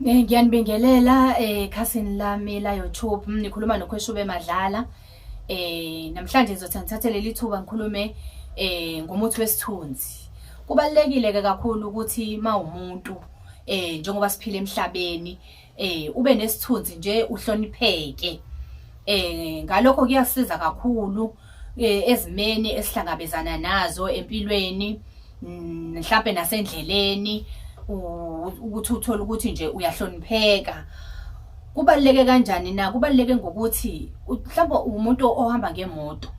Eh, ngiyanibingelela eh khasini lami la YouTube mm, nikhuluma nokhweshube madlala eh namhlanje ngizothi ngithathe leli thuba ngikhulume eh ngomuthi wesithunzi kubalekile ke kakhulu ukuthi mawumuntu eh njengoba siphila emhlabeni eh ube nesithunzi nje uhlonipheke eh ngalokho kuyasiza kakhulu eh, ezimeni esihlangabezana nazo empilweni mm, mhlawumbe nasendleleni ukuthi uthole ukuthi nje uyahlonipheka kubaluleke kanjani na kubaluleke ngokuthi mhlawumbe umuntu ohamba ngemoto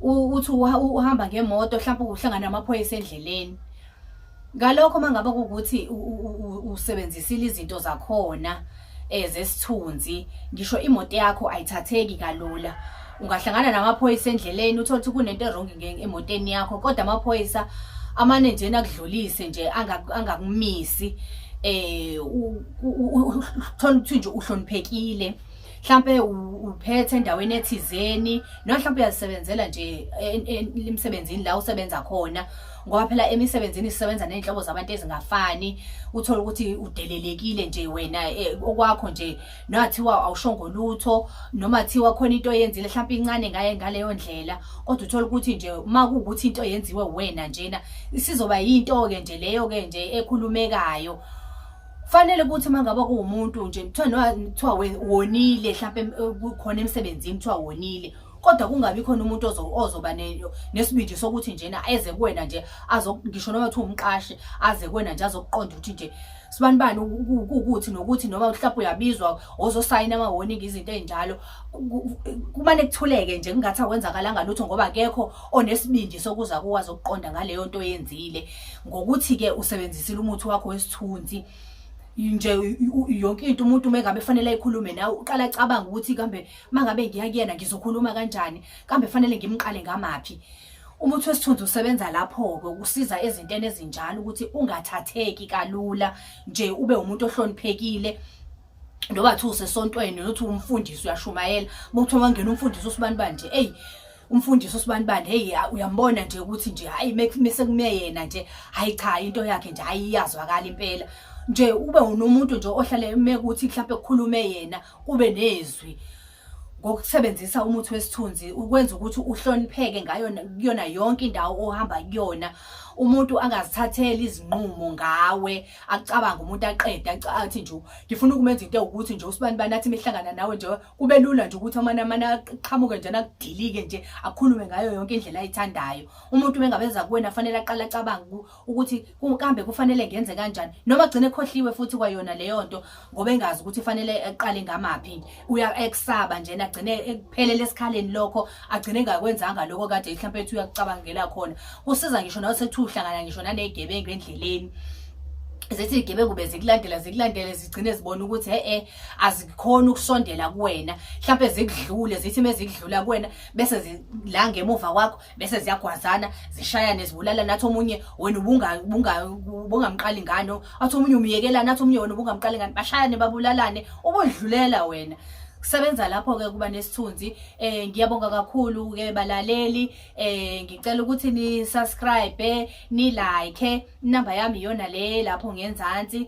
uthi uhamba ngemoto mhlawumbe uhlangana namaphoyisa endleleni Ngalokho mangaba ukuthi usebenzisile izinto zakhona ezesithunzi eh, ngisho imoto yakho ayithatheki kalula ungahlangana namaphoyisa endleleni uthole ukuthi kunento erong emoteni yakho kodwa amaphoyisa amane nje nakudlulise nje angakumisi eh uthola ukuthi nje uhloniphekile mhlampe uphethe endaweni ethizeni noma mhlampe uyazisebenzela nje emsebenzini la usebenza khona ngoba phela emisebenzini sisebenza nezinhlobo zabantu ezingafani uthola ukuthi udelelekile nje wena eh, okwakho nje nathiwa awushongo lutho noma thiwa khona into oyenzile mhlawumbe incane ngaye ngaleyo ndlela kodwa uthola ukuthi nje uma kuwukuthi into yenziwe wena njena isizoba yinto-ke nje leyo-ke nje ekhulumekayo Fanele ukuthi uma ngaba kuwumuntu nje kuthiwa kuthiwa wonile mhlawumbe eh, kukhona emsebenzini kuthiwa wonile kodwa kungabi khona umuntu ozoba nesibindi sokuthi njena eze kuwena nje ngisho noma kuthiwa umqashi aze kuwena nje azokuqonda ukuthi nje sibani bani ukuthi nokuthi noma mhlawumbe uyabizwa ozosayina ama-warning izinto ey'njalo kumane kuthuleke nje kungathi akwenzakalanga lutho ngoba akekho onesibindi sokuza kuwazi ukuqonda ngaleyo nto oyenzile ngokuthi-ke usebenzisile umuthi wakho wesithunzi nje yonke into umuntu uma engabe fanele ayikhulume nawe uqala acabanga ukuthi kambe uma ngabe ngiya kuyena ngizokhuluma kanjani kambe fanele ngimqale ngamaphi umuthi wesithunzi usebenza lapho-ke ukusiza ezintweni ezinjalo ukuthi ungathatheki kalula nje ube umuntu ohloniphekile noma kuthiwa usesontweni nothi umfundisi uyashumayela uma kuthiwa wangena umfundisi usibani banje eyi umfundisi usibanibani hey uyambona nje ukuthi nje hayi mese kumeyena nje hayi cha into yakhe nje hayi iyazwakala impela nje ube unomuntu nje ohlale mekuthi mhlawumbe kukhulume yena kube nezwi ngokusebenzisa umuthi wesithunzi ukwenza ukuthi uhlonipheke ngayo kuyona yonke indawo ohamba kuyona umuntu angazithatheli izinqumo ngawe acabanga umuntu aqede athi nje ngifuna ukumenza into ukuthi nje usibani bani athi mihlangana nawe nje kube lula nje ukuthi amane amane aqhamuke njena akudilike nje akhulume ngayo yonke indlela ayithandayo umuntu bengabeza kuwena fanele aqala acabanga ukuthi kambe kufanele ngenze kanjani noma gcine khohliwe futhi kwayona leyo nto ngoba engazi ukuthi fanele eqale ngamaphi uya eksaba njena gcine ekuphelele esikhaleni lokho agcine ngakwenzanga lokho kade mhlawumbe ethi uyakucabangela khona kusiza ngisho nawe sethuhlangana ngisho nanezigebengu endleleni zithi izigebengu bezikulandela zikulandele zigcine zibona ukuthi he-e azikhona ukusondela kuwena mhlawumbe zikudlule zithi mezikudlula kuwena bese la ngemuva kwakho bese ziyagwazana zishayane zibulala nathi omunye wena ubungamqali ngano athi omunye umyekela nathi omunye wena ubungamqali ngani bashayane babulalane ubodlulela wena kusebenza lapho ke kuba nesithunzi eh ngiyabonga kakhulu ke balaleli eh ngicela ukuthi ni subscribe ni like number yami yona le lapho ngenzansi